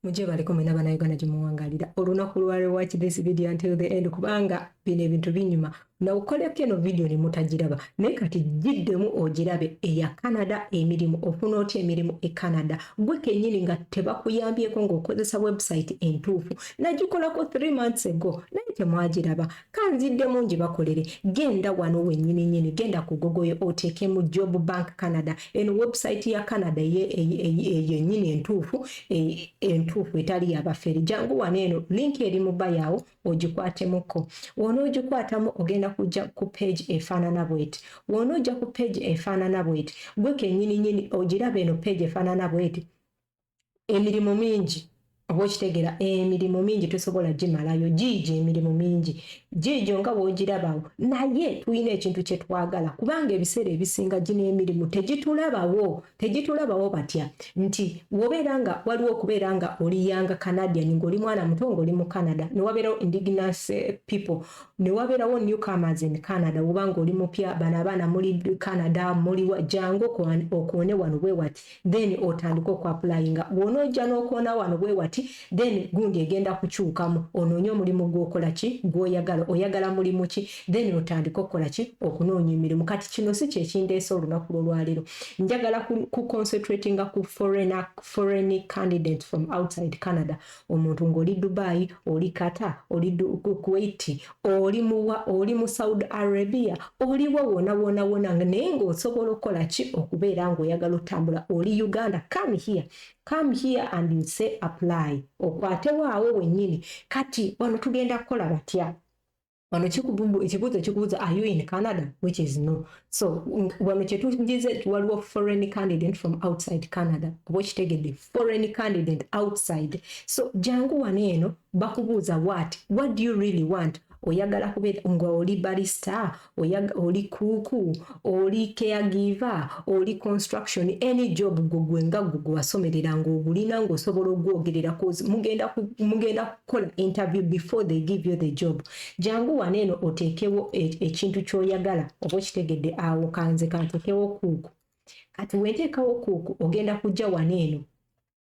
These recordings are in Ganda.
mujje baleko mwena bana Uganda gye muwangalira olunaku lwa rewatch this video until the end kubanga bino ebintu binyuma nawukoleko eno vidiyo ne mutagiraba naye kati giddemu ogirabe eya canada emirimu ofuna otya emirimu e canada gwe kenyini nga tebakuyambyeko ng'okozesa webusayiti entuufu nagikolako th months ago naye temwagiraba kanziddemu ngi bakolere genda wano wenyini nyini genda ku gogoyo oteekemu job bank canada eno webusayiti ya canada eyo nyini entuufu e, entuufu etali yabafere jangu wano eno linki eri mu bayawo ogikwaatemuko wona ogikwatamu ogenda kujja ku page efaanana bweti wona ojja ku page efaanana bweti gwe kenyini nyini ogiraba eno page efaanana bweti emirimu mingi oba okitegera emirimu mingi tosobola gimalayo giigi emirimu mingi giigyo nga wogirabawo naye tulina ekintu kyetwagala kubanga ebiseera ebisinga gino emirimu tegitulabawo tejitulabawo batya nti wobeera nga waliwo okubeera nga oli yanga canadian ngaoli mwana muto ngaoli mu canada newabeerawo indigenous eh, people newabeerawo new comers in canada woba nga oli mupya bano abaana muli canada muli jangu okoone wano bwewati then otandike okuapulayinga bwonaojja nokoona wano bwewati then gundi egenda kukyukamu onoonye omulimu gwokola ki gwoyagala oyagala mulimu ki then otandike okukola ki okunoonya emirimu kati kino si kyekindeesa olunaku lwolwalero njagala ku concentratinga ku foreign, foreign candidate from outside canada omuntu ng'oli dubai oli kata oli kuwait oli muwa oli mu saudi arabia oliwo wona wona wona naye ng'osobola okukola ki okubeera ng'oyagala otambula oli uganda come here come here and you say apply okwate waawe wenyini kati wano tugenda kukola batya wano ekibuuzo kikubuuza are you in canada which is no so wano kyetugize waliwo foreign candidate from outside canada oba okitegedde foreign candidate outside so jangu wano eno bakubuuza what what do you really want oyagala kubeera nga oli balista oli kuuku oli caregiver oli construction any job gwe gwe nga gwe gwe wasomerera ng'ogulina ng'osobola ogwogerera cause mugenda mugenda kukola interview before they give you the job jangu wano eno oteekewo e, ekintu ky'oyagala oba okitegedde awo kanze kanteekewo kuuku kati wenteekawo kuuku ogenda kujja wano eno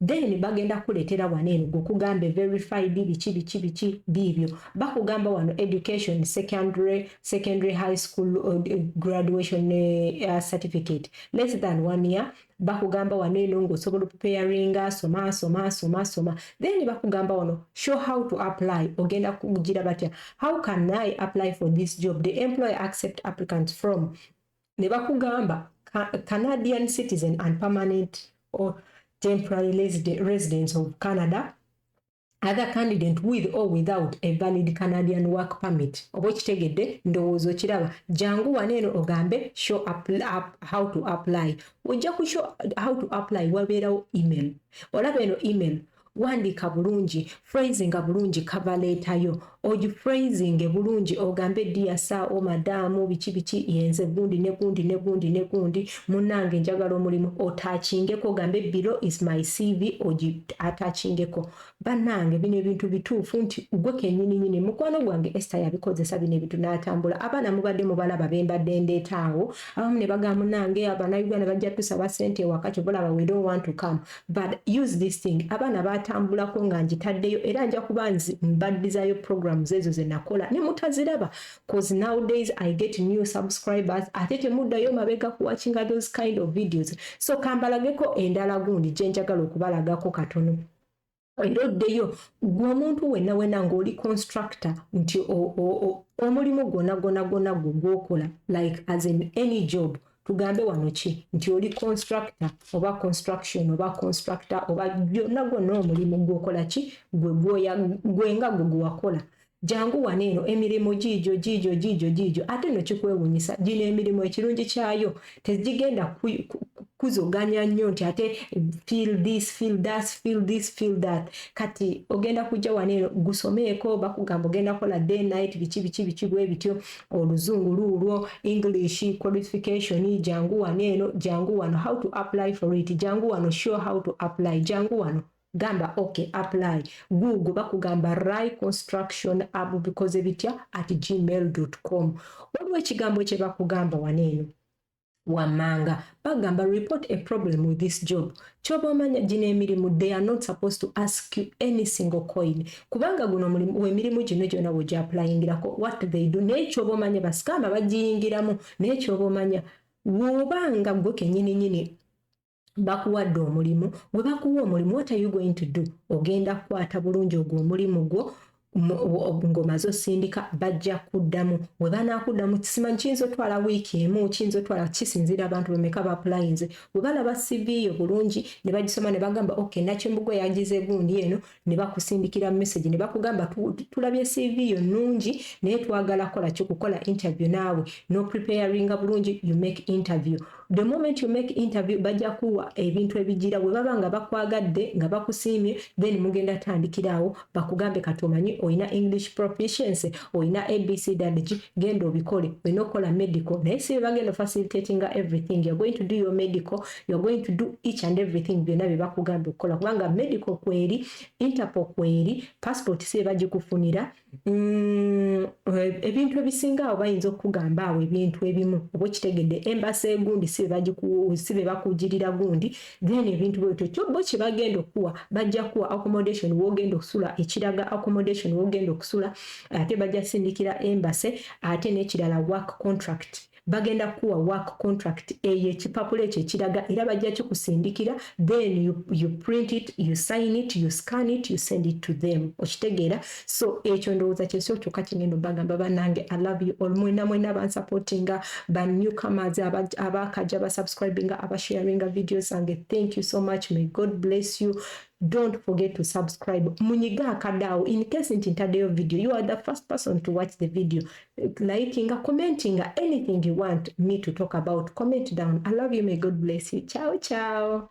then bagenda kukuletera wano eno gwekugambe verified biki biki biki biibyo bakugamba wano education secondary secondary high school uh, graduation uh, certificate less than one year bakugamba wano eno ngaosobola okupeyaringa soma soma soma soma then bakugamba wano show how to apply ogenda kugira batya how can i apply for this job the employer accept applicants from ne bakugamba Canadian citizen and permanent or temporary residents of Canada other candidate with or without a valid Canadian work permit oba okitegedde ndowooza okiraba jangu wano eno ogambe show up, up, how to apply ojja ku show how to apply wabeerawo email olaba eno email wandiika bulungi phrasinga bulungi kava leeta yo ogiphraisinge bulungi ogambe dia saa o madaamu biki biki yenze gundi ne gundi ne gundi ne gundi munange njagala omulimu otakingeko ogambe bilo is my cv ogi atakingeko banange bino ebintu bituufu nti gwe kenyini nyini mukwano gwange esta yabikozesa bino ebintu natambula abaana mubadde mubalaba bembadde ndeetaawo abamu ne bagaa munange abana uganda bajja tusaba sente ewaka kyobola bawere owantukamu but use this thing abaana batambulako nga njitaddeyo era nja kuba nzi mbaddizayo programs ezo zenakola ne mutaziraba cause nowdays i get new subscribers ate temuddayo mabega kuwakinga those kind of videos so kambalageko endala gundi gyenjagala okubalagako katono era oddeyo gwe omuntu wenna wena ngaoli constructor nti omulimu gwona gwona gwona gwe gwokola like as in any job tugambe wano ki nti oli constructor oba construction oba constructor oba byonna gwonna omulimu gwokola ki gwe nga gwe gwewakola jangu wano eno emirimu giijo giijo giijo giijo ate no kikwewunyisa gino emirimu ekirungi kyayo tegigenda kuzoganya nnyo nti ate feel this feel that feel this feel that kati ogenda kujja wano eno gusomeeko bakugamba ogenda kola day night biki biki biki bwe bityo oluzungu luulwo english qualification jangu wano eno jangu wano how to apply for it jangu wano show how to apply jangu wano gamba ok apply google bakugamba ry construction ab bikoze bitya at gmail com waliwo ekigambo kyebakugamba wano eno wammanga bagamba report a problem with this job kyoba omanya gino emirimu they are not supposed to ask you any single coin kubanga guno emirimu gino gyona wegyapulayingirako what they do naye kyoba omanya basikama bagiyingiramu naye kyoba omanya wobanga gwe kenyininyini bakuwadde omulimu gwe bakuwa omulimu what are you going to do ogenda kukwata bulungi ogwo omulimu gwo ng'omaze osindika bajja kuddamu we banaakuddamu kisimanyi kiyinza otwala wiiki emu kiyinza otwala kisinziira abantu bameka bapulayinze we balaba siviiyo bulungi ne bagisoma ne bagamba ok nakimbugwe yagize gundi eno ne bakusindikira message ne bakugamba tulabye CV yo nnungi naye twagala kola ki kukola interview naawe no preparinga bulungi you make interview the moment you make interview bajja kuwa ebintu ebigira bwe baba nga bakwagadde nga bakusiimye then mugenda tandikiraawo bakugambe kati omanyi olina english proficiency olina abc damage genda obikole olina okukola medical naye si bebagenda facilitatinga everything you're going to do your medical you are going to do each and everything byonna bye bakugambye okukola kubanga medical kweri interpol kweri passport si ebagikufunira mm, eh, ebintu ebisinga awo bayinza okukugamba awo ebintu ebimu oba okitegedde embasa egundi si be bakugirira gundi then ebintu bwebityo kyobo kye bagenda okukuwa bajja kuwa accommodation wogenda okusula ekiraga accommodation wogenda okusula ate bajja sindikira embase ate n'ekirala work contract bagenda kuwa work contract eye kipapula ekyo ekiraga era bajja kikusindikira then you, you print it you sign it you scan it you send it to them okitegeera so ekyo ndowooza kyesio kyoka kingendo bagamba banange i love you all mwena mwena bansupportinga ba newcomers abakaja basubscribinga abasharinga videos zange thank you so much may god bless you don't forget to subscribe munyiga akadaawo in case nti ntadeyo video you are the first person to watch the video likinga commentinga anything you want me to talk about comment down i love you may god bless you ciao ciao